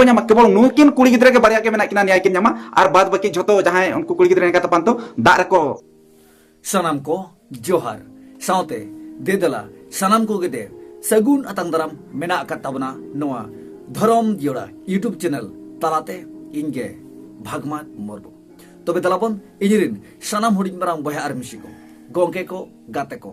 ᱧᱟᱢ ᱠᱮᱵᱚᱞ ᱱᱩᱠᱤᱱ ᱠᱩᱲᱤ ᱜᱤᱫᱽᱨᱟᱹ ᱜᱮ ᱵᱟᱨᱭᱟ ᱜᱮ ᱢᱮᱱᱟᱜ ᱠᱤᱱᱟ ᱱᱤᱭᱟᱹ ᱠᱤᱱ ᱧᱟᱢᱟ ᱟᱨ ᱵᱟᱫ ᱵᱟᱹᱠᱤ ᱡᱷᱚᱛᱚ ᱡᱟᱦᱟᱸᱭ ᱩᱱᱠᱩ ᱠᱩᱲᱤ ᱜᱤᱫᱽᱨᱟᱹ ᱮᱱᱠᱟ ᱛᱟᱯᱟᱱ ᱛᱚ ᱫᱟᱜ ᱨᱮᱠᱚ ᱥᱟᱱᱟᱢ ᱠᱚ ᱡᱚᱦᱟᱨ ᱥᱟᱶᱛᱮ ᱫᱮᱫᱮᱞᱟ ᱥᱟᱱᱟᱢ ᱠᱚᱜᱮ ᱫᱮ ᱥᱟᱹᱜᱩᱱ ᱟᱛᱟᱝ ᱫᱟᱨᱟᱢ ᱢᱮᱱᱟᱜ ᱟᱠᱟᱫ ᱛᱟᱵᱚᱱᱟ ᱱᱚᱣᱟ ᱫᱷᱚᱨᱚᱢ ᱡᱤᱭᱚᱲᱟ ᱤᱭᱩᱴᱩᱵᱽ ᱪᱮᱱᱮᱞ ᱛᱟᱞᱟᱛᱮ ᱤᱧ ᱜᱮ ᱵᱷᱟᱜᱽᱢᱟᱛ ᱢᱩᱨᱢᱩ ᱛᱚᱵᱮ ᱫᱟᱞᱟᱵᱚᱱ ᱤᱧᱨᱤᱱ ᱥᱟᱱᱟᱢ ᱦᱩᱰᱤᱧ ᱢᱟᱨᱟᱝ ᱵᱚᱭᱦᱟ ᱟᱨ ᱢᱤᱥᱤ ᱠᱚ ᱜᱚᱝᱠᱮ ᱠᱚ ᱜᱟᱛᱮ ᱠᱚ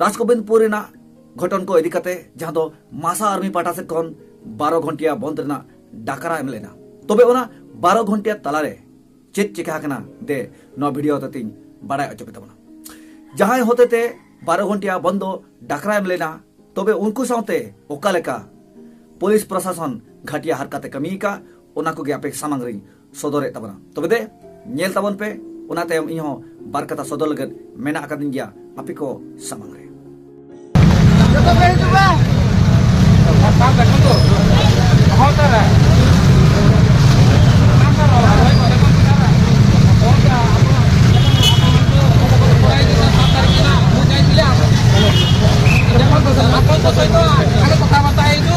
ᱨᱟᱡᱽᱜᱳᱵᱤᱱᱫᱽᱯᱩᱨ ᱨᱮᱱᱟᱜ ᱜᱷᱚᱴᱚᱱ ᱠᱚ ᱤᱫᱤ ᱠᱟᱛᱮ ᱡᱟᱦᱟᱸ ᱫᱚ ᱢᱟᱥᱟ ᱟᱨᱢᱤ ᱯᱟᱦᱴᱟ ᱥᱮᱫ ᱠᱷᱚᱱ ᱵᱟᱨᱚ ᱜᱷᱚᱱᱴᱤᱭᱟ ᱵᱚᱱᱫ ᱨᱮᱱᱟᱜ ᱰᱟᱠᱨᱟ ᱮᱢ ᱞᱮᱱᱟ ᱛᱚᱵᱮ ᱚᱱᱟ ᱵᱟᱨᱚ ᱜᱷᱚᱱᱴᱤᱭᱟ ᱛᱟᱞᱟᱨᱮ ᱪᱮᱫ ᱪᱤᱠᱟ ᱟᱠᱟᱱᱟ ᱫᱮ ᱱᱚᱣᱟ ᱵᱷᱤᱰᱤᱭᱳ ᱛᱮᱛᱤᱧ ᱵᱟᱲᱟᱭ ᱚᱪᱚ ᱠᱮᱫᱟ ᱵᱚᱱᱟ ᱡᱟᱦᱟᱸᱭ ᱦᱚᱛᱮ ᱛᱮ ᱵᱟᱨᱚ ᱜᱷᱚᱱᱴᱤᱭᱟ ᱵᱚᱱᱫ ᱫᱚ ᱰᱟᱠᱨᱟ ᱮᱢ ᱞᱮᱱᱟ ᱛᱚᱵᱮ ᱩᱱᱠᱩ ᱥᱟᱶᱛᱮ ᱚᱠᱟ ᱞᱮᱠᱟ ᱯᱩᱞᱤᱥ ᱯᱨᱚᱥᱟᱥᱚᱱ ᱜᱷᱟᱴᱤᱭᱟ ᱦᱟᱨᱠᱟᱛᱮ ᱠᱟᱹᱢᱤ ᱟᱠᱟᱫ ᱚᱱᱟ ᱠᱚᱜᱮ ᱟᱯᱮ ᱥᱟᱢᱟᱝ ᱨᱤᱧ ᱥᱚᱫᱚᱨᱮᱫ ᱛᱟᱵᱚᱱᱟ ᱛᱚᱵᱮ ᱫᱮ ᱧᱮᱞ ᱛᱟᱵᱚᱱ ᱯᱮ ᱚᱱᱟ ᱛᱟᱭᱚᱢ ᱤᱧ ᱦᱚᱸ ᱵᱟᱨ ᱠᱟᱛᱷᱟ ᱥᱚᱫᱚᱨ ᱞᱟᱹᱜᱤᱫ ᱢᱮᱱᱟᱜ ᱟᱠᱟᱫᱤᱧ ᱜᱮᱭᱟ ᱟᱯᱮ ᱠᱚ ᱥᱟᱢᱟᱝ ᱨᱮ ᱡᱚᱛᱚ ᱯᱮ ᱦᱤᱡᱩᱜᱼᱟ ᱵᱟᱨᱛᱟ ᱫᱮᱠᱷᱟᱱ ᱫᱚ ᱦᱚᱸ ᱛᱟᱨᱟ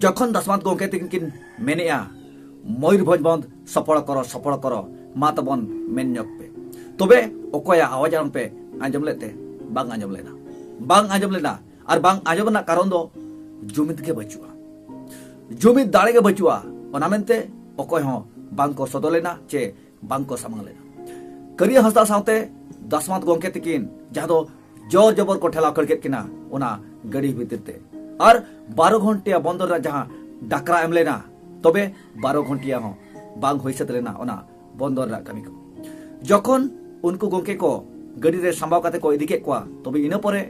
ᱡᱚᱠᱷᱚᱱ ᱫᱟᱥᱢᱟᱛ ᱜᱚᱢᱠᱮ ᱛᱤᱠᱤᱱ ᱠᱤᱱ ᱢᱮᱱᱮᱜᱼᱟ ᱢᱚᱭᱩᱨᱵᱷᱚᱸᱡᱽ ᱵᱚᱱᱫ ᱥᱚᱯᱚᱲ ᱠᱚᱨᱚ ᱥᱚᱯᱚᱲ ᱠᱚᱨᱚ ᱢᱟ ᱛᱟᱵᱚᱱ ᱢᱮᱱ ᱧᱚᱜ ᱯᱮ ᱛᱚᱵᱮ ᱚᱠᱚᱭᱟᱜ ᱟᱣᱟᱡᱽ ᱟᱲᱟᱝ ᱯᱮ ᱟᱸᱡᱚᱢ ᱞᱮᱫ ᱛᱮ ᱵᱟᱝ ᱟᱸᱡᱚᱢ ᱞᱮᱱᱟ ᱵᱟᱝ ᱟᱸᱡᱚᱢ ᱞᱮᱱᱟ ᱟᱨ ᱵᱟᱝ ᱟᱸᱡᱚᱢ ᱨᱮᱱᱟᱜ ᱠᱟᱨᱚᱱ ᱫᱚ ᱡᱩᱢᱤᱫ ᱜᱮ ᱵᱟᱹᱪᱩᱜᱼᱟ ᱡᱩᱢᱤᱫ ᱫᱟᱲᱮ ᱜᱮ ᱵᱟᱹᱪᱩᱜᱼᱟ ᱚᱱᱟ ᱢᱮᱱᱛᱮ ᱚᱠᱚᱭ ᱦᱚᱸ ᱵᱟᱝ ᱠᱚ ᱥᱚᱫᱚᱨ ᱞᱮᱱᱟ ᱪᱮ ᱵᱟᱝ ᱠᱚ ᱥᱟᱢᱟᱝ ᱞᱮᱫᱟ ᱠᱟᱹᱨᱤᱭᱟᱹ ᱦᱟᱸᱥᱫᱟ ᱥᱟᱶᱛᱮ ᱫᱟᱥᱢᱟᱛ ᱜᱚᱢᱠᱮ ᱛᱤᱠᱤᱱ ᱡᱟᱦᱟᱸ ᱫᱚ ᱡᱚᱨ ᱡᱚᱵᱚᱨ ᱠᱚ ᱴᱷᱮᱞᱟᱣ ᱠᱷᱟᱹᱲ ᱠᱮᱫ ᱠᱤᱱᱟ ᱚᱱᱟ ᱜᱟᱹᱰᱤ ᱵᱷᱤᱛᱤᱨ ᱛᱮ ᱟᱨ ᱵᱟᱨᱚ ᱜᱷᱚᱱᱴᱤᱭᱟ ᱵᱚᱱᱫᱚᱨ ᱨᱮ ᱡᱟᱦᱟᱸ ᱰᱟᱠᱨᱟ ᱮᱢ ᱞᱮᱱᱟ ᱛᱚᱵᱮ ᱵᱟᱨᱚ ᱜᱷᱚᱱᱴᱤᱭᱟ ᱦᱚᱸ ᱵᱟᱝ ᱦᱩᱭ ᱥᱟᱹᱛ ᱞᱮᱱᱟ ᱚᱱᱟ ᱵᱚᱱᱫᱚᱨ ᱨᱮᱱᱟᱜ ᱠᱟᱹᱢᱤ ᱠᱚ ᱡᱚᱠᱷᱚᱱ ᱩᱱᱠᱩ ᱜᱚᱢᱠᱮ ᱠᱚ ᱜᱟᱹᱰᱤ ᱨᱮ ᱥᱟᱢᱵᱟᱣ ᱠᱟᱛᱮ ᱠᱚ ᱤᱫᱤ ᱠᱮᱫ ᱠᱚᱣᱟ ᱛᱚᱵᱮ ᱤᱱᱟᱹ ᱯᱚᱨᱮ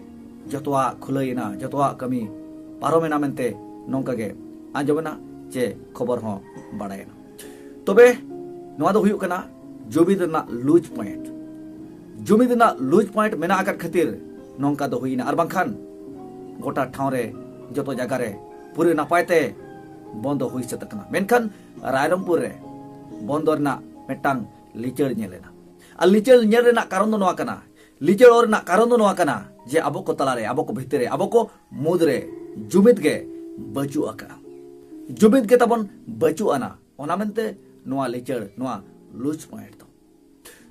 ᱡᱚᱛᱚᱣᱟᱜ ᱠᱷᱩᱞᱟᱹᱭᱮᱱᱟ ᱡᱚᱛᱚᱣᱟᱜ ᱠᱟᱹᱢᱤ ᱯᱟᱨᱚᱢᱮᱱᱟ ᱢᱮᱱᱛᱮ ᱱᱚᱝᱠᱟ ᱜᱮ ᱟᱸᱡᱚᱢᱮᱱᱟ ᱪᱮ ᱠᱷᱚᱵᱚᱨ ᱦᱚᱸ ᱵᱟᱲᱟᱭᱮᱱᱟ ᱛᱚᱵᱮ ᱱᱚᱣᱟ ᱫᱚ ᱦᱩᱭᱩᱜ ᱠᱟᱱᱟ ᱡᱩᱢᱤᱫ ᱨᱮᱱᱟᱜ ᱞᱩᱡᱽ ᱯᱚᱭᱮᱱᱴ ᱡᱩᱢᱤᱫ ᱨᱮᱱᱟᱜ ᱞᱩᱡᱽ ᱯᱚᱭᱮᱱᱴ ᱢᱮᱱᱟᱜ ᱟᱠᱟᱫ ᱠᱷᱟᱹᱛᱤᱨ ᱱᱚᱝᱠᱟ ᱫᱚ ᱦᱩᱭᱱᱟ ᱟᱨ ᱵᱟᱝᱠᱷᱟᱱ ᱜᱚᱴᱟ ᱴᱷᱟᱶ ᱨᱮ ᱡᱚᱛᱚ ᱡᱟᱭᱜᱟ ᱨᱮ ᱯᱩᱨᱟᱹ ᱱᱟᱯᱟᱭ ᱛᱮ ᱵᱚᱱᱫᱚ ᱦᱩᱭ ᱥᱟᱹᱛ ᱟᱠᱟᱱᱟ ᱢᱮᱱᱠᱷᱟᱱ ᱨᱟᱭᱨᱚᱝᱯᱩᱨ ᱨᱮ ᱵᱚᱱᱫᱚ ᱨᱮᱱᱟᱜ ᱢᱤᱫᱴᱟᱝ ᱞᱤᱪᱟᱹᱲ ᱧᱮᱞ ᱮᱱᱟ ᱟᱨ ᱞᱤᱪᱟᱹᱲ ᱧᱮᱞ ᱨᱮᱱᱟᱜ ᱠᱟᱨᱚᱱ ᱫᱚ ᱱᱚᱣᱟ ᱠᱟᱱᱟ ᱞᱤᱪᱟᱹᱲ ᱨᱮᱱᱟᱜ ᱠᱟᱨᱚᱱ ᱫᱚ ᱱᱚᱣᱟ ᱠᱟᱱᱟ ᱡᱮ ᱟᱵᱚ ᱠᱚ ᱛᱟᱞᱟᱨᱮ ᱟᱵᱚ ᱠᱚ ᱵᱷᱤᱛᱤᱨ ᱨᱮ ᱟᱵᱚ ᱠᱚ ᱢᱩᱫᱽᱨᱮ ᱡᱩᱢᱤᱫ ᱜᱮ ᱵᱟᱹᱪᱩᱜ ᱟᱠᱟᱫᱼᱟ ᱡᱩᱢᱤᱫ ᱜᱮ ᱛᱟᱵᱚᱱ ᱵᱟᱹᱪᱩᱜ ᱟᱱᱟ ᱚᱱᱟ ᱢᱮᱱᱛᱮ ᱱᱚᱣᱟ ᱞᱤᱪᱟᱹᱲ ᱱᱚᱣᱟ ᱞᱩᱡᱽ ᱯᱚᱭᱮᱱᱴ ᱫᱚ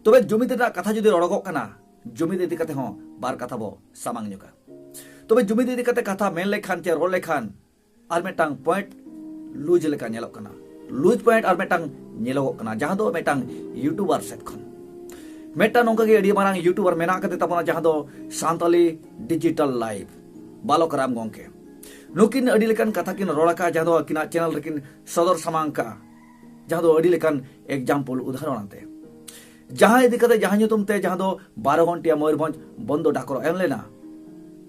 ᱛᱚᱵᱮ ᱡᱩᱢᱤᱫ ᱨᱮᱱᱟᱜ ᱠᱟᱛᱷᱟ ᱡᱩᱫᱤ ᱨᱚᱲᱚᱜᱚᱜ ᱠᱟᱱᱟ ᱡᱩᱢᱤᱫ ᱤᱫᱤ ᱠᱟᱛᱮ ᱦᱚᱸ ᱵᱟᱨ ᱠᱟᱛᱷᱟ ᱵᱚ ᱥᱟᱢᱟᱝ ᱧᱚᱜᱟ ᱛᱚᱵᱮ ᱡᱩᱢᱤᱫ ᱤᱫᱤ ᱠᱟᱛᱮ ᱠᱟᱛᱷᱟ ᱢᱮᱱ ᱞᱮᱠᱷᱟᱱ ᱪᱮ ᱨᱚᱲ ᱞᱮᱠᱷᱟᱱ ᱟᱨ ᱢᱤᱫᱴᱟᱝ ᱯᱚᱭᱮᱱᱴ ᱞᱩᱡᱽ ᱞᱮᱠᱟ ᱧᱮᱞᱚᱜ ᱠᱟᱱᱟ ᱞᱩᱡᱽ ᱯᱚᱭᱮᱱᱴ ᱟᱨ ᱢᱤᱫᱴᱟᱝ ᱧᱮᱞᱚᱜᱚᱜ ᱠᱟᱱᱟ ᱡᱟᱦᱟᱸ ᱫᱚ ᱢᱤᱫᱴᱟᱝ ᱤᱭᱩᱴᱩᱵᱟᱨ ᱥᱮᱫ ᱠᱷᱚᱱ ᱢᱤᱫᱴᱟᱝ ᱱᱚᱝᱠᱟ ᱜᱮ ᱟᱹᱰᱤ ᱢᱟᱨᱟᱝ ᱤᱭᱩᱴᱩᱵᱟᱨ ᱢᱮᱱᱟᱜ ᱟᱠᱟᱫᱮ ᱛᱟᱵᱚᱱᱟ ᱡᱟᱦᱟᱸ ᱫᱚ ᱥᱟᱱᱛᱟᱞᱤ ᱰᱤᱡᱤᱴᱟᱞ ᱞᱟᱭᱤᱵᱽ ᱵᱟᱞᱚᱠ ᱨᱟᱢ ᱜᱚᱝᱠᱮ ᱱᱩᱠᱤᱱ ᱟᱹᱰᱤ ᱞᱮᱠᱟᱱ ᱠᱟᱛᱷᱟ ᱠᱤᱱ ᱨᱚᱲ ᱟᱠᱟᱫᱼᱟ ᱡᱟᱦᱟᱸ ᱫᱚ ᱟᱹᱠᱤᱱᱟᱜ ᱪᱮᱱᱮᱞ ᱨᱮᱠᱤᱱ ᱥᱚᱫᱚᱨ ᱥᱟᱢᱟᱝ ᱠᱟᱜᱼᱟ ᱡᱟᱦᱟᱸ ᱫᱚ ᱟᱹᱰᱤ ᱞᱮᱠᱟᱱ ᱮᱠᱡᱟᱢᱯᱚᱞ ᱩᱫᱟᱦᱚᱨᱚᱱ ᱟᱛᱮ ᱡᱟᱦᱟᱸ ᱤᱫᱤ ᱠᱟᱛᱮ ᱡᱟᱦᱟᱸ ᱧᱩᱛᱩᱢ ᱛᱮ ᱡᱟᱦᱟᱸ ᱫᱚ ᱵᱟᱨᱚ ᱜᱷᱚᱱᱴᱤᱭᱟ ᱢᱚᱭᱩᱨᱵᱷᱚᱸᱡᱽ ᱵᱚᱱᱫᱚ ᱰᱟᱠᱚᱨ ᱮᱢ ᱞᱮᱱᱟ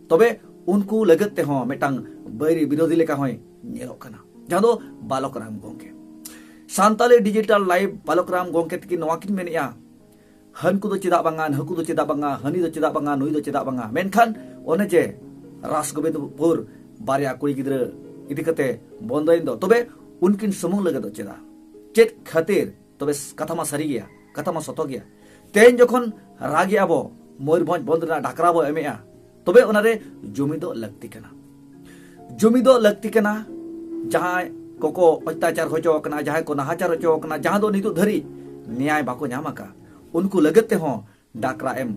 ᱛᱚᱵᱮ ᱩᱱᱠᱩ ᱞᱟᱹᱜᱤᱫ ᱛᱮᱦᱚᱸ ᱢᱤᱫᱴᱟᱝ ᱵᱟᱹᱭᱨᱤ ᱵᱤᱨᱳᱫᱷᱤ ᱞᱮᱠᱟ ᱦᱚᱸᱭ ᱧᱮᱞᱚᱜ ᱠᱟᱱᱟ ᱡᱟᱦᱟᱸ ᱫᱚ ᱵᱟᱞᱚᱠ ᱨᱟᱢ ᱜᱚᱝᱠᱮ ᱥᱟᱱᱛᱟᱞᱤ ᱰᱤᱡᱤᱴᱟᱞ ᱞᱟᱭᱤᱵ ᱵᱟᱞᱚᱠ ᱨᱟᱢ ᱜᱚᱝᱠᱮ ᱛᱤᱠᱤᱱ ᱱᱚᱣᱟ ᱠᱤᱱ ᱢᱮᱱᱮᱜᱼᱟ ᱦᱟᱹᱱᱠᱩ ᱫᱚ ᱪᱮᱫᱟᱜ ᱵᱟᱝᱟ ᱱᱟᱹᱠᱩ ᱫᱚ ᱪᱮᱫᱟᱜ ᱵᱟᱝᱟ ᱦᱟᱹᱱᱤ ᱫᱚ ᱪᱮᱫᱟᱜ ᱵᱟᱝᱟ ᱱᱩᱭ ᱫᱚ ᱪᱮᱫᱟᱜ ᱵᱟᱝᱟ ᱢᱮᱱᱠᱷᱟᱱ ᱚᱱᱮ ᱡᱮ ᱨᱟᱥ ᱜᱳᱵᱤᱱᱫᱯᱩᱨ ᱵᱟᱨᱭᱟ ᱠᱩᱲᱤ ᱜᱤᱫᱽᱨᱟᱹ ᱤᱫᱤ ᱠᱟᱛᱮ ᱵᱚᱱᱫᱚᱭᱮᱱ ᱫᱚ ᱛᱚᱵᱮ ᱩᱱᱠᱤᱱ ᱥᱩᱢᱩᱝ ᱞᱟᱹᱜᱤᱫ ᱫᱚ ᱪᱮᱫᱟᱜ ᱪᱮᱫ ᱠᱷᱟᱹᱛᱤᱨ ᱛᱚᱵᱮ ᱠᱟᱛᱷᱟ ᱢᱟ ᱥᱟᱹᱨᱤ ᱜᱮᱭᱟ ᱠᱟᱛᱷᱟ ᱢᱟ ᱥᱚᱛᱚ ᱜᱮᱭᱟ ᱛᱮᱦᱮᱧ ᱡᱚᱠᱷᱚᱱ ᱨᱟᱜᱮ ᱟᱵᱚ ᱢᱚᱭᱩᱨᱵᱷᱚᱸᱡᱽ ᱵᱚᱱᱫᱷ ᱨᱮᱱᱟᱜ ᱰᱟᱠᱨᱟ ᱵᱚ ᱮᱢᱮᱜᱼᱟ ᱛᱚᱵᱮ ᱚᱱᱟᱨᱮ ᱡᱩᱢᱤ ᱫᱚ ᱞᱟᱹᱠᱛᱤ ᱠᱟᱱᱟ ᱡᱩᱢᱤ ᱫᱚ ᱞᱟᱹᱠᱛᱤ ᱠᱟᱱᱟ ᱡᱟᱦᱟᱸᱭ ᱠᱚᱠᱚ ᱚᱛᱛᱟᱪᱟᱨ ᱦᱚᱪᱚ ᱟᱠᱟᱱᱟ ᱡᱟᱦᱟᱸᱭ ᱠᱚ ᱱᱟᱦᱟᱪᱟᱨ ᱦᱚᱪᱚ ᱟᱠᱟᱱᱟ ᱡᱟᱦᱟᱸ ᱫᱚ ᱱᱤᱛᱚᱜ ᱫᱷᱟᱹᱨᱤᱡ ᱱᱮᱭᱟᱭ ᱵᱟᱠᱚ ᱧᱟᱢ ᱟᱠᱟᱫ ᱩᱱᱠᱩ ᱞᱟᱹᱜᱤᱫ ᱛᱮᱦᱚᱸ ᱰᱟᱠᱨᱟ ᱮᱢ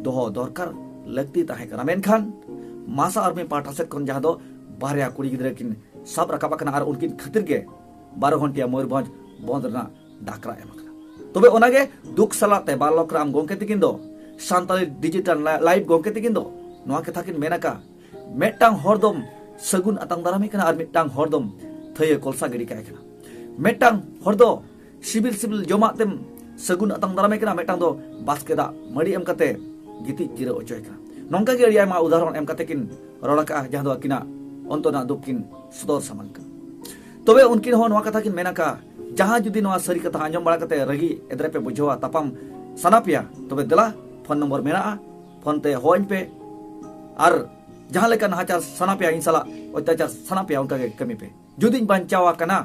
ᱫᱚᱦᱚ ᱫᱚᱨᱠᱟᱨ ᱞᱟᱹᱠᱛᱤ ᱛᱟᱦᱮᱸ ᱠᱟᱱᱟ ᱢᱮᱱᱠᱷᱟᱱ ᱢᱟᱥᱟ ᱟᱨᱢᱤ ᱯᱟᱦᱴᱟ ᱥᱮᱫ ᱠᱷᱚᱱ ᱡᱟᱦᱟᱸ ᱫᱚ ᱵᱟᱨᱭᱟ ᱠᱩᱲᱤ ᱜᱤᱫᱽᱨᱟᱹ ᱠᱤᱱ ᱥᱟᱵ ᱨᱟᱠᱟᱵ ᱟᱠᱟᱱᱟ ᱟᱨ ᱩᱱᱠᱤᱱ ᱠᱷᱟᱹᱛᱤᱨ ᱜᱮ ᱵᱟᱨᱚ ᱜᱷᱚᱱᱴᱤᱭᱟ ᱢᱚᱭᱩᱨᱵᱷᱚᱸᱡᱽ ᱵᱚᱸᱫᱽ ᱨᱮᱱᱟᱜ ᱰᱟᱠᱨᱟ ᱮᱢ ᱟᱠᱟᱱᱟ ᱛᱚᱵᱮ ᱚᱱᱟᱜᱮ ᱫᱩᱠ ᱥᱟᱞᱟᱜ ᱛᱮ ᱵᱟᱞᱚᱠ ᱨᱟᱢ ᱜᱚᱢᱠᱮ ᱛᱤᱠᱤᱱ ᱫᱚ ᱥᱟᱱᱛᱟᱲᱤ ᱰᱤᱡᱤᱴᱟᱞ ᱞᱟᱭᱤᱵ ᱜᱚᱢᱠᱮ ᱛᱤᱠᱤᱱ ᱫᱚ ᱱᱚᱣᱟ ᱠᱟᱛᱷᱟ ᱠᱤᱱ ᱢᱮᱱ ᱟᱠᱟᱫ ᱢᱤᱫᱴᱟᱝ ᱦᱚᱲ ᱫᱚᱢ ᱥᱟᱹᱜᱩᱱ ᱟᱛᱟᱝ ᱫᱟᱨᱟᱢᱮ ᱠᱟᱱᱟ ᱟᱨ ᱢᱤᱫᱴᱟᱝ ᱦᱚᱲ ᱫᱚᱢ ᱛᱷᱟᱹᱭᱟᱹ ᱠᱚᱞᱥᱟ ᱜᱤᱰᱤ ᱠᱟᱭ ᱠᱟᱱᱟ ᱢᱤᱫᱴᱟᱝ ᱦᱚᱲ ᱫᱚ ᱥᱤᱵᱤᱞ ᱥᱤᱵᱤᱞ ᱡᱚᱢᱟᱜ ᱛᱮᱢ ᱥᱟᱹᱜᱩᱱ ᱟᱛᱟᱝ ᱫᱟᱨᱟᱢᱮ ᱠᱟᱱᱟ ᱢᱤᱫᱴᱟᱝ ᱫᱚ ᱵᱟᱥᱠᱮ ᱫᱟᱜ ᱢᱟᱹᱰᱤ ᱮᱢ ᱠᱟᱛᱮ ᱜᱤᱛᱤᱡ ᱡᱤᱨᱟᱹᱣ ᱦᱚᱪᱚᱭ ᱠᱟᱱᱟ ᱱᱚᱝᱠᱟ ᱜᱮ ᱟᱹᱰᱤ ᱟᱭᱢᱟ ᱩᱫᱟᱦᱚᱨᱚᱱ ᱮᱢ ᱠᱟᱛᱮ ᱠᱤᱱ ᱨᱚᱲ ᱟᱠᱟᱜᱼᱟ ᱡᱟᱦᱟᱸ ᱫᱚ ᱟᱹᱠᱤᱱᱟᱜ ᱚᱱᱛᱚᱨ ᱨᱮᱱᱟᱜ ᱫᱩᱠ ᱠᱤᱱ ᱥᱚᱫᱚᱨ ᱥᱟᱢᱟᱝ ᱠᱟᱱᱟ ᱛᱚᱵᱮ ᱩᱱᱠᱤᱱ ᱦᱚᱸ ᱱᱚᱣᱟ ᱠᱟᱛᱷᱟ ᱠᱤᱱ ᱢᱮᱱ ᱟᱠᱟᱜᱼᱟ ᱡᱟᱦᱟᱸ ᱡᱩᱫᱤ ᱱᱚᱣᱟ ᱥᱟᱹᱨᱤ ᱠᱟᱛᱷᱟ ᱟᱸᱡᱚᱢ ᱵᱟᱲᱟ ᱠᱟᱛᱮ ᱨᱟᱹᱜᱤ ᱮᱫᱨᱮ ᱯᱮ ᱵᱩᱡᱷᱟᱹᱣᱟ ᱛᱟᱯᱟᱢ ᱥᱟᱱᱟ ᱯᱮᱭᱟ ᱛᱚᱵᱮ ᱫᱮᱞᱟ ᱯᱷᱳᱱ ᱱᱚᱢᱵᱚᱨ ᱢᱮᱱᱟᱜᱼᱟ ᱯᱷᱳᱱ ᱛᱮ ᱦᱚᱦᱚᱧ ᱯᱮ ᱟᱨ ᱡᱟᱦᱟᱸ ᱞᱮᱠᱟ ᱱᱟᱦᱟᱪᱟᱨ ᱥᱟᱱᱟ ᱯᱮᱭᱟ ᱤᱧ ᱥᱟᱞᱟᱜ ᱚᱛᱛᱟᱪᱟᱨ ᱥᱟᱱᱟ ᱯᱮᱭᱟ ᱚᱱᱠᱟ ᱜᱮ ᱠᱟᱹᱢᱤ ᱯᱮ ᱡᱩᱫᱤᱧ ᱵᱟᱧᱪᱟᱣ ᱟᱠᱟᱱᱟ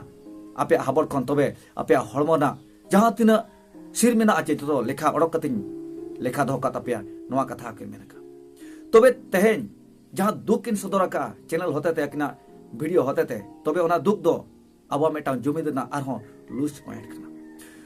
ᱟᱯᱮᱭᱟᱜ ᱦᱟᱵᱚᱲ ᱠᱷᱚᱱ ᱛᱚᱵᱮ ᱟᱯᱮᱭᱟᱜ ᱦᱚᱲᱢᱚ ᱨᱮᱱᱟᱜ ᱡᱟᱦᱟᱸ ᱛᱤᱱᱟᱹᱜ ᱥᱤᱨ ᱢᱮᱱᱟᱜᱼᱟ ᱪᱮ ᱡᱚᱛᱚ ᱞᱮᱠᱷᱟ ᱚᱰᱚᱠ ᱠᱟᱛᱮᱧ ᱞᱮᱠᱷᱟ ᱫᱚᱦᱚ ᱠᱟᱜ ᱛᱟᱯᱮᱭᱟ ᱱᱚᱣᱟ ᱠᱟᱛᱷᱟ ᱟᱹᱠᱤᱱ ᱢᱮᱱ ᱟᱠᱟᱫ ᱛᱚᱵᱮ ᱛᱮᱦᱮᱧ ᱡᱟᱦᱟᱸ ᱫᱩᱠ ᱠᱤᱱ ᱥᱚᱫᱚᱨ ᱟᱠᱟᱫᱼᱟ ᱪᱮᱱᱮᱞ ᱦᱚᱛᱮᱛᱮ ᱟᱹᱠᱤᱱᱟᱜ ᱵᱷᱤᱰᱤᱭᱳ ᱦᱚᱛᱮᱛᱮ ᱛᱚᱵᱮ ᱚᱱᱟ ᱫᱩᱠ ᱫᱚ ᱟᱵᱚᱣᱟᱜ ᱢᱤᱫᱴᱟᱝ ᱡᱩᱢᱤᱫ ᱨᱮᱱᱟᱜ ᱟᱨᱦᱚᱸ ᱞᱩᱡᱽ ᱯᱚᱭᱮᱱᱴ ᱠᱟᱱᱟ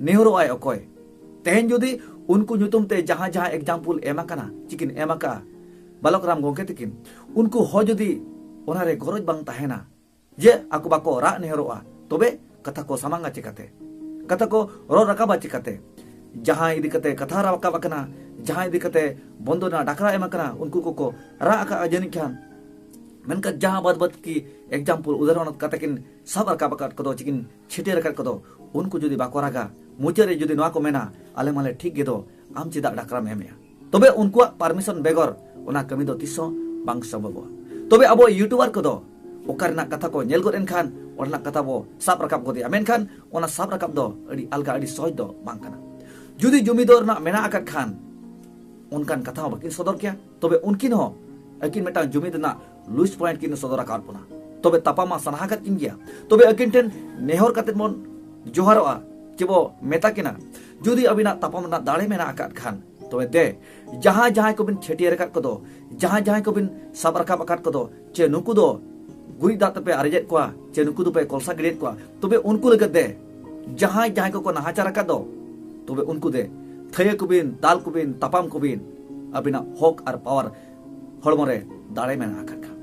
ᱱᱮᱦᱚᱨᱚᱜ ᱟᱭ ᱚᱠᱚᱭ ᱛᱮᱦᱮᱧ ᱡᱩᱫᱤ ᱩᱱᱠᱩ ᱧᱩᱛᱩᱢ ᱛᱮ ᱡᱟᱦᱟᱸ ᱡᱟᱦᱟᱸ ᱮᱠᱡᱟᱢᱯᱩᱞ ᱮᱢ ᱟᱠᱟᱱᱟ ᱪᱤᱠᱤᱱ ᱮᱢ ᱟᱠᱟ ᱵᱟᱞᱚᱠ ᱨᱟᱢ ᱜᱚᱝᱠᱮ ᱛᱤᱠᱤᱱ ᱩᱱᱠᱩ ᱦᱚᱸ ᱡᱩᱫᱤ ᱚᱱᱟ ᱨᱮ ᱜᱚᱨᱚᱡ ᱵᱟᱝ ᱛᱟᱦᱮᱱᱟ ᱡᱮ ᱟᱠᱚ ᱵᱟᱠᱚ ᱨᱟᱜ ᱱᱮᱦᱚᱨᱚᱜᱼᱟ ᱛᱚᱵᱮ ᱠᱟᱛᱷᱟ ᱠᱚ ᱥᱟᱢᱟᱝᱟ ᱪᱤᱠᱟᱛᱮ ᱠᱟᱛᱷᱟ ᱠᱚ ᱨᱚᱲ ᱨᱟᱠᱟᱵᱟ ᱪᱤᱠᱟᱛᱮ ᱡᱟᱦᱟᱸ ᱤᱫᱤ ᱠᱟᱛᱮ ᱠᱟᱛᱷᱟ ᱨᱟᱠᱟᱵ ᱟᱠᱟᱱᱟ ᱡᱟᱦᱟᱸ ᱤᱫᱤ ᱠᱟᱛᱮ ᱵᱚᱱᱫᱚ ᱨᱮᱱᱟᱜ ᱰᱟᱠᱨᱟ ᱮᱢ ᱟᱠᱟᱱᱟ ᱩᱱᱠᱩ ᱠᱚᱠᱚ ᱨᱟᱜ ᱟᱠᱟᱫᱼᱟ ᱡᱟᱹᱱᱤᱡ ᱠᱷᱟᱱ ᱢᱮᱱᱠᱷᱟᱱ ᱡᱟᱦᱟᱸ ᱵᱟᱫ ᱵᱟᱫ ᱠᱤ ᱮᱠᱡᱟᱢᱯᱩᱞ ᱩᱫᱟᱦᱚᱨᱚᱱ ᱠᱟᱛᱮ ᱠᱤᱱ ᱥᱟᱵ ᱨᱟᱠᱟᱵ ᱟᱠᱟᱫ ᱠᱚᱫᱚ ᱪᱤᱠᱤᱱ ᱪᱷᱤᱴᱟᱹᱨ ᱟᱠᱟᱫ ᱠᱚᱫᱚ ᱩᱱᱠᱩ ᱡᱩᱫᱤ ᱵᱟᱠᱚ ᱨᱟᱜᱟ ᱢᱩᱪᱟᱹᱫ ᱨᱮ ᱡᱩᱫᱤ ᱱᱚᱣᱟ ᱠᱚ ᱢᱮᱱᱟ ᱟᱞᱮ ᱢᱟᱞᱮ ᱴᱷᱤᱠ ᱜᱮ ᱫᱚ ᱟᱢ ᱪᱮᱫᱟᱜ ᱰᱟᱠᱨᱟᱢ ᱮᱢᱮᱜᱼᱟ ᱛᱚᱵᱮ ᱩᱱᱠᱩᱣᱟᱜ ᱯᱟᱨᱢᱤᱥᱚᱱ ᱵᱮᱜᱚᱨ ᱚᱱᱟ ᱠᱟᱹᱢᱤ ᱫᱚ ᱛᱤᱥ ᱦᱚᱸ ᱵᱟᱝ ᱥᱚᱢᱵᱷᱚᱵᱚᱜᱼᱟ ᱛᱚᱵᱮ ᱟᱵᱚ ᱤᱭᱩᱴᱩᱵᱟᱨ ᱠᱚᱫᱚ ᱚᱠᱟ ᱨᱮᱱᱟᱜ ᱠᱟᱛᱷᱟ ᱠᱚ ᱧᱮᱞ ᱜᱚᱫ ᱮᱱᱠᱷᱟᱱ ᱚᱸᱰᱮᱱᱟᱜ ᱠᱟᱛᱷᱟ ᱵᱚ ᱥᱟᱵ ᱨᱟᱠᱟᱵ ᱜᱚᱫᱮᱜᱼᱟ ᱢᱮᱱᱠᱷᱟᱱ ᱚᱱᱟ ᱥᱟᱵ ᱨᱟᱠᱟᱵ ᱫᱚ ᱟᱹᱰᱤ ᱟᱞᱜᱟ ᱟᱹᱰᱤ ᱥᱚᱦᱚᱡ ᱫᱚ ᱵᱟᱝ ᱠᱟᱱᱟ ᱡᱩᱫᱤ ᱡᱩᱢᱤ ᱫᱚ ᱨᱮᱱᱟᱜ ᱢᱮᱱᱟᱜ ᱟᱠᱟᱫ ᱠᱷᱟᱱ ᱚᱱᱠᱟᱱ ᱠᱟᱛᱷᱟ ᱦᱚᱸ ᱵᱟᱹᱠᱤᱱ ᱥᱚᱫᱚᱨ ᱠᱮᱭᱟ ᱛᱚᱵᱮ ᱩᱱᱠᱤᱱ ᱦᱚᱸ ᱟᱹᱠᱤᱱ ᱢᱤᱫᱴᱟᱝ ᱡᱩᱢᱤ ᱨᱮᱱᱟᱜ ᱞᱩᱭᱥ ᱯᱚᱭᱮᱱᱴ ᱠᱤᱱ ᱥᱚᱫᱚᱨ ᱟᱠᱟᱫ ᱵᱚᱱᱟ ᱛᱚᱵᱮ ᱛᱟᱯᱟᱢ ᱢᱟ ᱥᱟᱱᱟ ᱟᱠᱟᱫ ᱠᱤᱱ ᱜᱮᱭᱟ ᱛᱚᱵᱮ ᱟᱹᱠᱤᱱ ᱴᱷᱮᱱ ᱱᱮᱦᱚᱨ ᱠᱟᱛᱮ ᱵᱚᱱ ᱡᱚᱦᱟᱨᱚᱜᱼᱟ ᱪᱮ ᱵᱚ ᱢᱮᱛᱟ ᱠᱤᱱᱟ ᱡᱩᱫᱤ ᱟᱹᱵᱤᱱᱟᱜ ᱛᱟᱯᱟᱢ ᱨᱮᱱᱟᱜ ᱫᱟᱲᱮ ᱢᱮᱱᱟᱜ ᱟᱠᱟᱫ ᱠᱷᱟᱱ ᱛᱚᱵᱮ ᱫᱮ ᱡᱟᱦᱟᱸ ᱡᱟᱦᱟᱸᱭ ᱠᱚᱵᱤᱱ ᱪᱷᱟᱹᱴᱭᱟᱹᱨ ᱟᱠᱟᱫ ᱠᱚᱫᱚ ᱡᱟᱦᱟᱸ ᱡᱟᱦᱟᱸᱭ ᱠᱚᱵᱤᱱ ᱥᱟᱵ ᱨᱟᱠᱟᱵ ᱟᱠᱟᱫ ᱠᱚᱫᱚ ᱪᱮ ᱱᱩᱠᱩ ᱫᱚ ᱜᱩᱨᱤᱡ ᱫᱟᱜ ᱛᱮᱯᱮ ᱟᱨᱮᱡᱮᱫ ᱠᱚᱣᱟ ᱪᱮ ᱱᱩᱠᱩ ᱫᱚᱯᱮ ᱠᱚᱞᱥᱟ ᱜᱤᱰᱤᱭᱮᱫ ᱠᱚᱣᱟ ᱛᱚᱵᱮ ᱩᱱᱠᱩ ᱞᱟᱹᱜᱤᱫ ᱫᱮ ᱡᱟᱦᱟᱸᱭ ᱡᱟᱦᱟᱸᱭ ᱠᱚᱠᱚ ᱱᱟᱦᱟᱪᱟᱨ ᱟᱠᱟᱫ ᱫᱚ ᱛᱚᱵᱮ ᱩᱱᱠᱩ ᱫᱮ ᱛᱷᱟᱹᱭᱟᱹ ᱠᱚᱵᱤᱱ ᱫᱟᱞ ᱠᱚᱵᱤᱱ ᱛᱟᱯᱟᱢ ᱠᱚᱵᱤᱱ ᱟᱹᱵᱤᱱᱟᱜ ᱦᱚᱠ ᱟᱨ ᱯᱟᱣᱟᱨ ᱦᱚᱲᱢᱚ ᱨᱮ ᱫᱟᱲᱮ ᱢᱮᱱᱟᱜ ᱟᱠᱟᱫ ᱠᱷᱟᱱ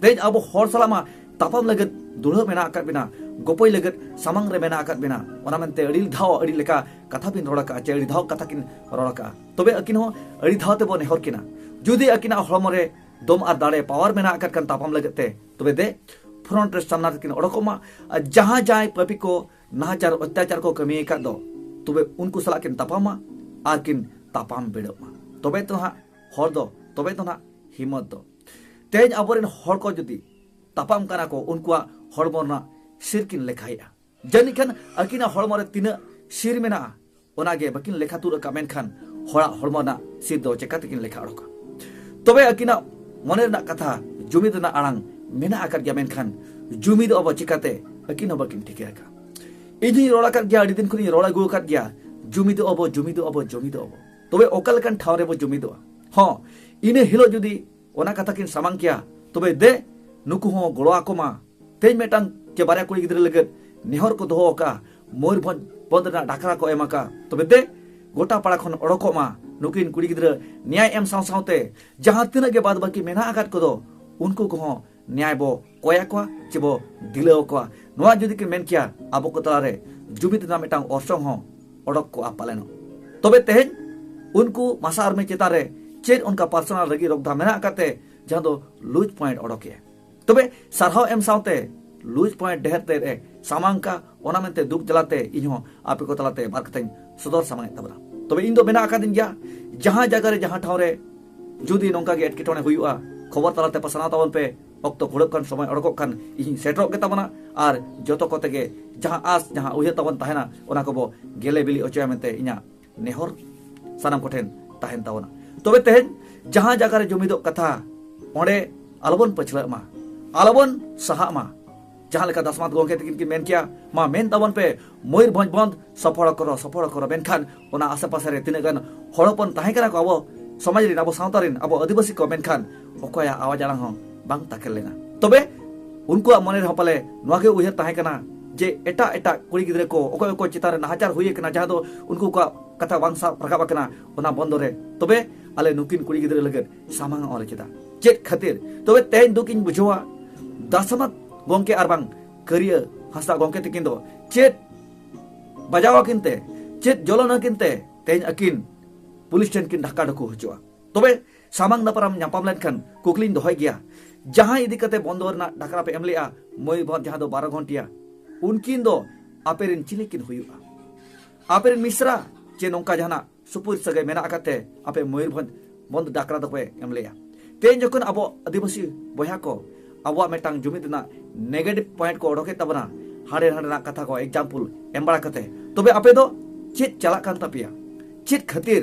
ᱛᱮᱦᱮᱧ ᱟᱵᱚ ᱦᱚᱲ ᱥᱟᱞᱟᱜ ᱢᱟ ᱛᱟᱯᱟᱢ ᱞᱟᱹᱜᱤᱫ ᱫᱩᱲᱦᱟᱹ ᱢᱮᱱᱟᱜ ᱟᱠᱟᱫ ᱵᱮᱱᱟ ᱜᱚᱯᱚᱭ ᱞᱟᱹᱜᱤᱫ ᱥᱟᱢᱟᱝ ᱨᱮ ᱢᱮᱱᱟᱜ ᱟᱠᱟᱫ ᱵᱮᱱᱟ ᱚᱱᱟ ᱢᱮᱱᱛᱮ ᱟᱹᱰᱤ ᱫᱷᱟᱣ ᱟᱹᱰᱤ ᱞᱮᱠᱟ ᱠᱟᱛᱷᱟ ᱵᱤᱱ ᱨᱚᱲ ᱟᱠᱟᱫᱼᱟ ᱪᱮ ᱟᱹᱰᱤ ᱫᱷᱟᱣ ᱠᱟᱛᱷᱟ ᱠᱤᱱ ᱨᱚᱲ ᱟᱠᱟᱫᱼᱟ ᱛᱚᱵᱮ ᱟᱹᱠᱤᱱ ᱦᱚᱸ ᱟᱹᱰᱤ ᱫᱷᱟᱣ ᱛᱮᱵᱚ ᱱᱮᱦᱚᱨ ᱠᱤᱱᱟ ᱡᱩᱫᱤ ᱟᱹᱠᱤᱱᱟᱜ ᱦᱚᱲᱢᱚ ᱨᱮ ᱫᱚᱢ ᱟᱨ ᱫᱟᱲᱮ ᱯᱟᱣᱟᱨ ᱢᱮᱱᱟᱜ ᱟᱠᱟᱫ ᱠᱷᱟᱱ ᱛᱟᱯᱟᱢ ᱞᱟᱹᱜᱤᱫ ᱛᱮ ᱛᱚᱵᱮ ᱫᱮ ᱯᱷᱨᱚᱱᱴ ᱨᱮ ᱥᱟᱢᱱᱟ ᱨᱮᱠᱤᱱ ᱚᱰᱚᱠᱚᱜ ᱢᱟ ᱟᱨ ᱡᱟᱦᱟᱸ ᱡᱟᱦᱟᱸᱭ ᱯᱟᱹᱯᱤ ᱠᱚ ᱱᱟᱦᱟᱪᱟᱨ ᱚᱛᱛᱟᱪᱟᱨ ᱠᱚ ᱠᱟᱹᱢᱤ ᱟᱠᱟᱫ ᱫᱚ ᱛᱚᱵᱮ ᱩᱱᱠᱩ ᱥᱟᱞᱟᱜ ᱠᱤᱱ ᱛᱟᱯᱟᱢᱟ ᱟᱨ ᱠᱤᱱ ᱛᱟᱯᱟᱢ ᱵᱤᱰᱟᱹᱜ ᱢᱟ ᱛᱚᱵᱮ ᱛᱚ ᱦᱟᱸᱜ ᱦᱚᱲ ᱫᱚ ᱛᱚᱵᱮ ᱫᱚ ᱱᱟᱜ ᱦᱤᱢᱚᱛ ᱫᱚ ᱛᱮᱦᱮᱧ ᱟᱵᱚᱨᱮᱱ ᱦᱚᱲ ᱠᱚ ᱡᱩᱫᱤ ᱛᱟᱯᱟᱢ ᱠᱟᱱᱟ ᱠᱚ ᱩᱱᱠᱩᱣᱟᱜ ᱦᱚᱲᱢᱚ ᱨᱮᱱᱟᱜ ᱥᱤᱨ ᱠᱤᱱ ᱞᱮᱠᱷᱟᱭᱮᱫᱼᱟ ᱡᱟᱹᱱᱤᱡ ᱠᱷᱟᱱ ᱟᱹᱠᱤᱱᱟᱜ ᱦᱚᱲᱢᱚ ᱨᱮ ᱛᱤᱱᱟᱹᱜ ᱥᱤᱨ ᱢᱮᱱᱟᱜᱼᱟ ᱚᱱᱟᱜᱮ ᱵᱟᱹᱠᱤᱱ ᱞᱮᱠᱷᱟ ᱛᱩᱫ ᱟᱠᱟᱫ ᱢᱮᱱᱠᱷᱟᱱ ᱦᱚᱲᱟᱜ ᱦᱚᱲᱢᱚ ᱨᱮᱱᱟᱜ ᱥᱤᱨ ᱫᱚ ᱪᱮᱠᱟ ᱛᱮᱠᱤᱱ ᱞᱮᱠᱷᱟ ᱚᱰᱚᱠᱟ ᱛᱚᱵᱮ ᱟᱹᱠᱤᱱᱟᱜ ᱢᱚᱱᱮ ᱨᱮᱱᱟᱜ ᱠᱟᱛᱷᱟ ᱡᱩᱢᱤᱫ ᱨᱮᱱᱟᱜ ᱟᱲᱟᱝ ᱢᱮᱱᱟᱜ ᱟᱠᱟᱫ ᱜᱮᱭᱟ ᱢᱮᱱᱠᱷᱟᱱ ᱡᱩᱢᱤᱫ ᱟᱵᱚ ᱪᱮᱠᱟᱛᱮ ᱟᱹᱠᱤᱱ ᱦᱚᱸ ᱵᱟᱹᱠᱤᱱ ᱴᱷᱤᱠᱟᱹ ᱟᱠᱟᱫ ᱤᱧ ᱦᱚᱸᱧ ᱨᱚᱲ ᱟᱠᱟᱫ ᱜᱮᱭᱟ ᱟᱹᱰᱤ ᱫᱤᱱ ᱠᱷᱚᱱᱤᱧ ᱨᱚᱲ ᱟᱹᱜᱩ ᱟᱠᱟᱫ ᱜᱮᱭᱟ ᱡᱩᱢᱤᱫ ᱟᱵᱚ ᱡᱩᱢᱤᱫ ᱟᱵᱚ ᱡᱩᱢᱤᱫ ᱟᱵᱚ ᱛᱚᱵᱮ ᱚᱠᱟ ᱞᱮᱠᱟᱱ ᱴᱷᱟᱶ ᱨᱮᱵᱚ ᱡᱩᱢᱤᱫᱚᱜᱼᱟ ᱦᱚᱸ ᱤᱱᱟᱹ ᱦᱤᱞᱳᱜ ᱡᱩᱫᱤ ᱚᱱᱟ ᱠᱟᱛᱷᱟ ᱠᱤᱱ ᱥᱟᱢᱟᱝ ᱠᱮᱭᱟ ᱛᱚᱵᱮ ᱫᱮ ᱱᱩᱠᱩ ᱦᱚᱸ ᱜᱚᱲᱚ ᱟᱠᱚ ᱢᱟ ᱛᱮᱦᱮᱧ ᱢᱤᱫᱴᱟᱝ ᱪᱮ ᱵᱟᱨᱭᱟ ᱠᱩᱲᱤ ᱜᱤᱫᱽᱨᱟᱹ ᱞᱟᱹᱜᱤᱫ ᱱᱮᱦᱚᱨ ᱠᱚ ᱫᱚᱦᱚ ᱟᱠᱟᱫᱼᱟ ᱢᱚᱭᱩᱨᱵᱷᱚᱸᱡᱽ ᱯᱚᱫᱽ ᱨᱮᱱᱟᱜ ᱰᱟᱠᱨᱟ ᱠᱚ ᱮᱢ ᱟᱠᱟᱫᱼᱟ ᱛᱚᱵᱮ ᱫᱮ ᱜᱚᱴᱟ ᱯᱟᱲᱟ ᱠᱷᱚᱱ ᱚᱰᱚᱠᱚᱜ ᱢᱟ ᱱᱩᱠᱤᱱ ᱠᱩᱲᱤ ᱜᱤᱫᱽᱨᱟᱹ ᱱᱮᱭᱟᱭ ᱮᱢ ᱥᱟᱶ ᱥᱟᱶᱛᱮ ᱡᱟᱦᱟᱸ ᱛᱤᱱᱟᱹᱜ ᱜᱮ ᱵᱟᱫ ᱵᱟᱹᱠᱤ ᱢᱮᱱᱟᱜ ᱟᱠᱟᱫ ᱠᱚᱫᱚ ᱩᱱᱠᱩ ᱠᱚᱦᱚᱸ ᱱᱮᱭᱟᱭ ᱵᱚ ᱠᱚᱭ ᱟᱠᱚᱣᱟ ᱪᱮ ᱵᱚ ᱫᱤᱞᱟᱹᱣ ᱟᱠᱚᱣᱟ ᱱᱚᱣᱟ ᱡᱩᱫᱤ ᱠᱤᱱ ᱢᱮᱱ ᱠᱮᱭᱟ ᱟᱵᱚ ᱠᱚ ᱛᱟᱞᱟᱨᱮ ᱡᱩᱢᱤᱫ ᱨᱮᱱᱟᱜ ᱢᱤᱫᱴᱟᱝ ᱚᱨᱥᱚᱝ ᱦᱚᱸ ᱚᱰᱚᱠ ᱠᱚᱜᱼᱟ ᱯᱟᱞᱮᱱᱚᱜ ᱛᱚᱵᱮ ᱛᱮᱦᱮᱧ ᱩᱱᱠᱩ ᱢᱟᱥᱟ ᱟᱨᱢᱤ ᱪᱮᱛᱟᱱ ᱨᱮ ᱪᱮᱫ ᱚᱱᱠᱟ ᱯᱟᱨᱥᱚᱱᱟᱞ ᱨᱟᱹᱜᱤ ᱨᱚᱜᱽᱫᱷᱟ ᱢᱮᱱᱟᱜ ᱟᱠᱟᱫ ᱛᱮ ᱡᱟᱦᱟᱸ ᱫᱚ ᱞᱩᱡᱽ ᱯᱚᱭᱮᱱᱴ ᱚᱰᱚᱠᱮ ᱛᱚᱵᱮ ᱥᱟᱨᱦᱟᱣ ᱮᱢ ᱥᱟᱶᱛᱮ ᱞᱩᱡᱽ ᱯᱚᱭᱮᱱᱴ ᱰᱷᱮᱨ ᱛᱮᱫ ᱮ ᱥᱟᱢᱟᱝ ᱠᱟᱜᱼᱟ ᱚᱱᱟ ᱢᱮᱱᱛᱮ ᱫᱩᱠ ᱡᱟᱞᱟᱛᱮ ᱤᱧ ᱦᱚᱸ ᱟᱯᱮ ᱠᱚ ᱛᱟᱞᱟᱛᱮ ᱵᱟᱨ ᱠᱟᱛᱷᱟᱧ ᱥᱚᱫᱚᱨ ᱥᱟᱢᱟᱝ ᱮᱫ ᱛᱟᱵᱚᱱᱟ ᱛᱚᱵᱮ ᱤᱧ ᱫᱚ ᱢᱮᱱᱟᱜ ᱟᱠᱟᱫᱤᱧ ᱜᱮᱭᱟ ᱡᱟᱦᱟᱸ ᱡᱟᱭᱜᱟ ᱨᱮ ᱡᱟᱦᱟᱸ ᱴᱷᱟᱶ ᱨᱮ ᱡᱩᱫᱤ ᱱᱚᱝᱠᱟ ᱜᱮ ᱮᱴᱠᱮᱴᱚᱬᱮ ᱦᱩᱭᱩᱜᱼᱟ ᱠᱷᱚᱵᱚᱨ ᱛᱟᱞᱟᱛᱮ ᱯᱟᱥᱱᱟᱣ ᱛᱟᱵᱚᱱ ᱯᱮ ᱚᱠᱛᱚ ᱠᱩᱲᱟᱹᱜ ᱠᱟᱱ ᱥᱚᱢᱚᱭ ᱚᱰᱚᱠᱚᱜ ᱠᱟᱱ ᱤᱧ ᱥᱮᱴᱮᱨᱚᱜ ᱜᱮ ᱛᱟᱵᱚᱱᱟ ᱟᱨ ᱡᱚᱛᱚ ᱠᱚᱛᱮ ᱜᱮ ᱡᱟᱦᱟᱸ ᱟᱥ ᱡᱟᱦᱟᱸ ᱩᱭᱦᱟᱹᱨ ᱛᱟᱵᱚᱱ ᱛᱟᱦᱮᱱᱟ ᱚᱱᱟ ᱠᱚᱵᱚ ᱜᱮᱞᱮ ᱵᱤᱞᱤ ᱚᱪᱚᱭᱟ ᱢᱮᱱᱛᱮ ᱤᱧᱟᱹᱜ ᱱᱮᱦᱚᱨ ᱥᱟᱱᱟᱢ ᱠᱚᱴᱷᱮᱱ ᱛᱟᱦᱮᱱ ᱛᱟᱵᱚᱱᱟ ᱛᱚᱵᱮ ᱛᱮᱦᱮᱧ ᱡᱟᱦᱟᱸ ᱡᱟᱭᱜᱟ ᱨᱮ ᱡᱩᱢᱤᱫᱚᱜ ᱠᱟᱛᱷᱟ ᱚᱸᱰᱮ ᱟᱞᱚᱵᱚᱱ ᱯᱟᱹᱪᱷᱞᱟᱹᱜ ᱢᱟ ᱟᱞᱚᱵᱚᱱ ᱥᱟᱦᱟᱜ ᱢᱟ ᱡᱟᱦᱟᱸ ᱞᱮᱠᱟ ᱫᱟᱥᱢᱟᱛ ᱜᱚᱢᱠᱮ ᱛᱟᱹᱠᱤᱱ ᱠᱤᱱ ᱢᱮᱱ ᱠᱮᱭᱟ ᱢᱟ ᱢᱮᱱ ᱛᱟᱵᱚᱱ ᱯᱮ ᱢᱚᱭᱩᱨᱵᱷᱚᱸᱡᱽ ᱵᱚᱱᱫ ᱥᱚᱯᱷᱚᱲ ᱠᱚᱨᱚ ᱥᱚᱯᱷᱚᱲ ᱠᱚᱨᱚ ᱢᱮᱱᱠᱷᱟᱱ ᱚᱱᱟ ᱟᱥᱮ ᱯᱟᱥᱮ ᱨᱮ ᱛᱤᱱᱟᱹᱜ ᱜᱟᱱ ᱦᱚᱲ ᱦᱚᱯᱚᱱ ᱛᱟᱦᱮᱸ ᱠᱟᱱᱟ ᱠᱚ ᱟᱵᱚ ᱥᱚᱢᱟᱡᱽ ᱨᱮᱱ ᱟᱵᱚ ᱥᱟᱶᱛᱟ ᱨᱮᱱ ᱟᱵᱚ ᱟᱹᱫᱤᱵᱟᱹᱥᱤ ᱠᱚ ᱢᱮᱱᱠᱷᱟᱱ ᱚᱠᱚᱭᱟᱜ ᱟᱣᱟᱡ ᱟᱲᱟᱝ ᱦᱚᱸ ᱵᱟᱝ ᱛᱟᱠᱮᱨ ᱞᱮᱱᱟ ᱛᱚᱵᱮ ᱩᱱᱠᱩᱣᱟᱜ ᱢᱚᱱᱮ ᱨᱮᱦᱚᱸ ᱯᱟᱞᱮ ᱱᱚᱣᱟ ᱜᱮ ᱩᱭᱦᱟᱹᱨ ᱛᱟᱦᱮᱸ ᱠᱟᱱᱟ ᱡᱮ ᱮᱴᱟᱜ ᱮᱴᱟᱜ ᱠᱩᱲᱤ ᱜᱤᱫᱽᱨᱟᱹ ᱠᱚ ᱚᱠᱚᱭ ᱚᱠᱚᱭ ᱪᱮᱛᱟᱱ ᱨᱮ ᱱᱟᱦᱟᱪᱟᱨ ᱦᱩᱭ ᱟᱠᱟᱱᱟ ᱡᱟᱦᱟᱸ ᱫᱚ ᱩᱱᱠᱩ ᱠᱚᱣᱟᱜ ᱠᱟᱛᱷᱟ ᱵᱟᱝ ᱥᱟᱵ ᱨᱟᱠᱟᱵ ᱟᱠᱟᱱᱟ ᱚᱱᱟ ᱵᱚᱱᱫᱚ ᱨᱮ ᱛᱚᱵᱮ ᱟᱞᱮ ᱱᱩᱠᱤᱱ ᱠᱩᱲᱤ ᱜᱤᱫᱽᱨᱟᱹ ᱞᱟᱹᱜᱤᱫ ᱥᱟᱢᱟᱝ ᱚᱞ ᱠᱮᱫᱟ ᱪᱮᱫ ᱠᱷᱟᱹᱛᱤᱨ ᱛᱚᱵᱮ ᱛᱮᱦᱮᱧ ᱫᱩᱠ ᱤᱧ ᱵᱩᱡᱷᱟᱹᱣᱟ ᱫᱟᱥᱟᱢᱟᱛ ᱜᱚᱝᱠᱮ ᱟᱨ ᱵᱟᱝ ᱠᱟᱹᱨᱤᱭᱟᱹ ᱦᱟᱸᱥᱫᱟ ᱜᱚᱝᱠᱮ ᱛᱟᱹᱠᱤᱱ ᱫᱚ ᱪᱮᱫ ᱵᱟᱡᱟᱣ ᱟᱹᱠᱤᱱ ᱛᱮ ᱪᱮᱫ ᱡᱚᱞᱚᱱ ᱟᱹᱠᱤᱱ ᱛᱮ ᱛᱮᱦᱮᱧ ᱟᱹᱠᱤᱱ ᱯᱩᱞᱤᱥ ᱴᱷᱮᱱ ᱠᱤᱱ ᱰᱷᱟᱠᱟ ᱰᱷᱟᱹᱠᱩ ᱦᱚᱪᱚᱜᱼᱟ ᱛᱚᱵᱮ ᱥᱟᱢᱟᱝ ᱫᱟᱯᱨᱟᱢ ᱧᱟᱯᱟᱢ ᱞᱮᱱᱠᱷᱟᱱ ᱠᱩᱠᱞᱤᱧ ᱫᱚᱦᱚᱭ ᱜᱮᱭᱟ ᱡᱟᱦᱟᱸ ᱤᱫᱤ ᱠᱟᱛᱮ ᱵᱚᱱᱫᱚ ᱨᱮᱱᱟᱜ ᱰᱟᱠᱨᱟ ᱯᱮ ᱮᱢ ᱞᱮᱜᱼᱟ ᱢᱚᱭᱩᱨᱵᱷᱚᱸᱡᱽ ᱡᱟᱦᱟᱸ ᱫᱚ ᱵᱟᱨᱚ ᱜᱷᱚᱱᱴᱤᱭᱟ ᱩᱱᱠᱤᱱ ᱫᱚ ᱟᱯᱮ ᱨᱮᱱ ᱪᱤᱞᱤ ᱠᱤᱱ ᱦᱩᱭᱩᱜᱼᱟ ᱟᱯᱮ ᱨᱮᱱ ᱢᱤᱥᱨᱟ ᱪᱮ ᱱᱚᱝᱠᱟ ᱡᱟᱦᱟᱱᱟᱜ ᱥᱩᱯᱩᱨ ᱥᱟᱹᱜᱟᱹᱭ ᱢᱮᱱᱟᱜ ᱟᱠᱟᱫ ᱛᱮ ᱟᱯᱮ ᱢᱚᱭᱩᱨᱵᱷᱚᱸᱡᱽ ᱵᱚᱱᱫᱚ ᱰᱟᱠᱨᱟ ᱫᱚᱯᱮ ᱮᱢ ᱞᱮᱜᱼᱟ ᱛᱮᱦᱮᱧ ᱡᱚᱠᱷᱚᱱ ᱟᱵᱚ ᱟᱹᱫᱤᱵᱟᱹᱥᱤ ᱵᱚᱭᱦᱟ ᱠᱚ ᱟᱵᱚᱣᱟᱜ ᱢᱤᱫᱴᱟᱝ ᱡᱩᱢᱤᱫ ᱨᱮᱱᱟᱜ ᱱᱮᱜᱮᱴᱤᱵᱷ ᱯᱚᱭᱮᱱᱴ ᱠᱚ ᱚᱰᱚᱠᱮᱫ ᱛᱟᱵᱚᱱᱟ ᱦᱟᱸᱰᱮ ᱱᱟᱸᱰᱮ ᱨᱮᱱᱟᱜ ᱠᱟᱛᱷᱟ ᱠᱚ ᱮᱠᱡᱟᱢᱯᱩᱞ ᱮᱢ ᱵᱟᱲᱟ ᱠᱟᱛᱮ ᱛᱚᱵᱮ ᱟᱯᱮ ᱫᱚ ᱪᱮᱫ ᱪᱟᱞᱟᱜ ᱠᱟᱱ ᱛᱟᱯᱮᱭᱟ ᱪᱮᱫ ᱠᱷᱟᱹᱛᱤᱨ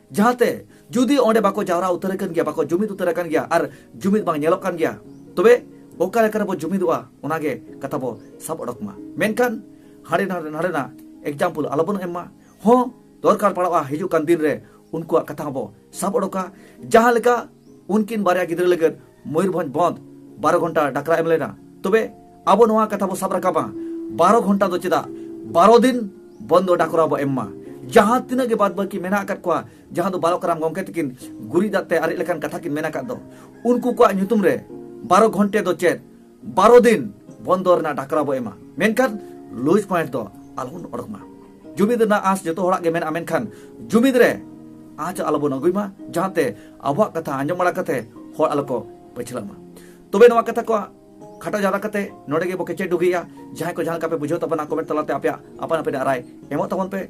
ᱡᱟᱦᱟᱸᱛᱮ ᱡᱩᱫᱤ ᱚᱸᱰᱮ ᱵᱟᱠᱚ ᱡᱟᱣᱨᱟ ᱩᱛᱟᱹᱨ ᱟᱠᱟᱱ ᱜᱮᱭᱟ ᱵᱟᱠᱚ ᱡᱩᱢᱤᱫ ᱩᱛᱟᱹᱨ ᱟᱠᱟᱱ ᱜᱮᱭᱟ ᱟᱨ ᱡᱩᱢᱤᱫ ᱵᱟᱝ ᱧᱮᱞᱚᱜ ᱠᱟᱱ ᱜᱮᱭᱟ ᱛᱚᱵᱮ ᱚᱠᱟ ᱞᱮᱠᱟ ᱨᱮᱵᱚ ᱡᱩᱢᱤᱫᱚᱜᱼᱟ ᱚᱱᱟᱜᱮ ᱠᱟᱛᱷᱟ ᱵᱚ ᱥᱟᱵ ᱚᱰᱚᱠ ᱢᱟ ᱢᱮᱱᱠᱷᱟᱱ ᱦᱟᱸᱰᱮ ᱱᱟᱰᱮ ᱱᱟᱰᱮᱱᱟᱜ ᱮᱠᱡᱟᱢᱯᱚᱞ ᱟᱞᱚᱵᱚᱱ ᱮᱢ ᱢᱟ ᱦᱚᱸ ᱫᱚᱨᱠᱟᱨ ᱯᱟᱲᱟᱜᱼᱟ ᱦᱤᱡᱩᱜ ᱠᱟᱱ ᱫᱤᱱ ᱨᱮ ᱩᱱᱠᱩᱣᱟᱜ ᱠᱟᱛᱷᱟ ᱦᱚᱸᱵᱚ ᱥᱟᱵ ᱚᱰᱚᱠᱟ ᱡᱟᱦᱟᱸ ᱞᱮᱠᱟ ᱩᱱᱠᱤᱱ ᱵᱟᱨᱭᱟ ᱜᱤᱫᱽᱨᱟᱹ ᱞᱟᱹᱜᱤᱫ ᱢᱚᱭᱩᱨᱵᱷᱚᱸᱡᱽ ᱵᱚᱸᱫᱽ ᱵᱟᱨᱚ ᱜᱷᱚᱱᱴᱟ ᱰᱟᱠᱨᱟ ᱮᱢ ᱞᱮᱱᱟ ᱛᱚᱵᱮ ᱟᱵᱚ ᱱᱚᱣᱟ ᱠᱟᱛᱷᱟ ᱵᱚ ᱥᱟᱵ ᱨᱟᱠᱟᱵᱟ ᱵᱟᱨᱚ ᱜᱷᱚᱱᱴᱟ ᱫᱚ ᱪᱮᱫᱟᱜ ᱵᱟᱨᱚ ᱫᱤᱱ ᱵᱚᱸᱫᱽ ᱰᱟᱠᱨᱟ ᱵᱚ ᱮᱢ ᱢᱟ ᱡᱟᱦᱟᱸ ᱛᱤᱱᱟᱹᱜ ᱜᱮ ᱵᱟᱫ ᱵᱟᱹᱠᱤ ᱢᱮᱱᱟᱜ ᱟᱠᱟᱫ ᱠᱚᱣᱟ ᱡᱟᱦᱟᱸ ᱫᱚ ᱵᱟᱞᱚᱠᱨᱟᱢ ᱜᱚᱢᱠᱮ ᱛᱟᱹᱠᱤᱱ ᱜᱩᱨᱤᱡ ᱫᱟᱜ ᱛᱮ ᱟᱨᱮᱡ ᱞᱮᱠᱟᱱ ᱠᱟᱛᱷᱟ ᱠᱤᱱ ᱢᱮᱱ ᱟᱠᱟᱫ ᱫᱚ ᱩᱱᱠᱩ ᱠᱚᱣᱟᱜ ᱧᱩᱛᱩᱢ ᱨᱮ ᱵᱟᱨᱚ ᱜᱷᱚᱱᱴᱮ ᱫᱚ ᱪᱮᱫ ᱵᱟᱨᱚ ᱫᱤᱱ ᱵᱚᱱᱫᱚ ᱨᱮᱱᱟᱜ ᱰᱟᱠᱨᱟ ᱵᱚ ᱮᱢᱟ ᱢᱮᱱᱠᱷᱟᱱ ᱞᱩᱡᱽ ᱯᱚᱭᱮᱱᱴ ᱫᱚ ᱟᱞᱚᱵᱚᱱ ᱚᱰᱚᱠ ᱢᱟ ᱡᱩᱢᱤᱫ ᱨᱮᱱᱟᱜ ᱟᱸᱥ ᱡᱚᱛᱚ ᱦᱚᱲᱟᱜ ᱜᱮ ᱢᱮᱱᱟᱜᱼᱟ ᱢᱮᱱᱠᱷᱟᱱ ᱡᱩᱢᱤᱫ ᱨᱮ ᱟᱸᱥ ᱟᱞᱚᱵᱚᱱ ᱟᱹᱜᱩᱭ ᱢᱟ ᱡᱟᱦᱟᱸᱛᱮ ᱟᱵᱚᱣᱟᱜ ᱠᱟᱛᱷᱟ ᱟᱸᱡᱚᱢ ᱵᱟᱲᱟ ᱠᱟᱛᱮ ᱦᱚᱲ ᱟᱞᱚ ᱠᱚ ᱯᱟᱹᱪᱷᱞᱟᱜ ᱢᱟ ᱛᱚᱵᱮ ᱱᱚᱣᱟ ᱠᱟᱛᱷᱟ ᱠᱚ ᱠᱷᱟᱴᱟ ᱡᱟᱣᱨᱟ ᱠᱟᱛᱮ ᱱᱚᱰᱮ ᱜᱮ ᱵᱚ ᱠᱮᱪᱮᱫ ᱰᱩᱜᱤᱭᱟ ᱡᱟᱦᱟᱸᱭ ᱠᱚ ᱡᱟᱦᱟᱸ ᱞᱮᱠᱟ ᱯᱮ ᱵᱩᱡᱷᱟᱹᱣ ᱛᱟᱵᱚᱱᱟ ᱠᱚᱢᱮᱱᱴ ᱛᱟᱞᱟᱛᱮ ᱟᱯᱮᱭᱟᱜ ᱟᱯᱟᱱ ᱟᱹᱯᱤᱱ ᱨᱟᱭ ᱮᱢᱚᱜ ᱛᱟᱵᱚᱱ ᱯᱮ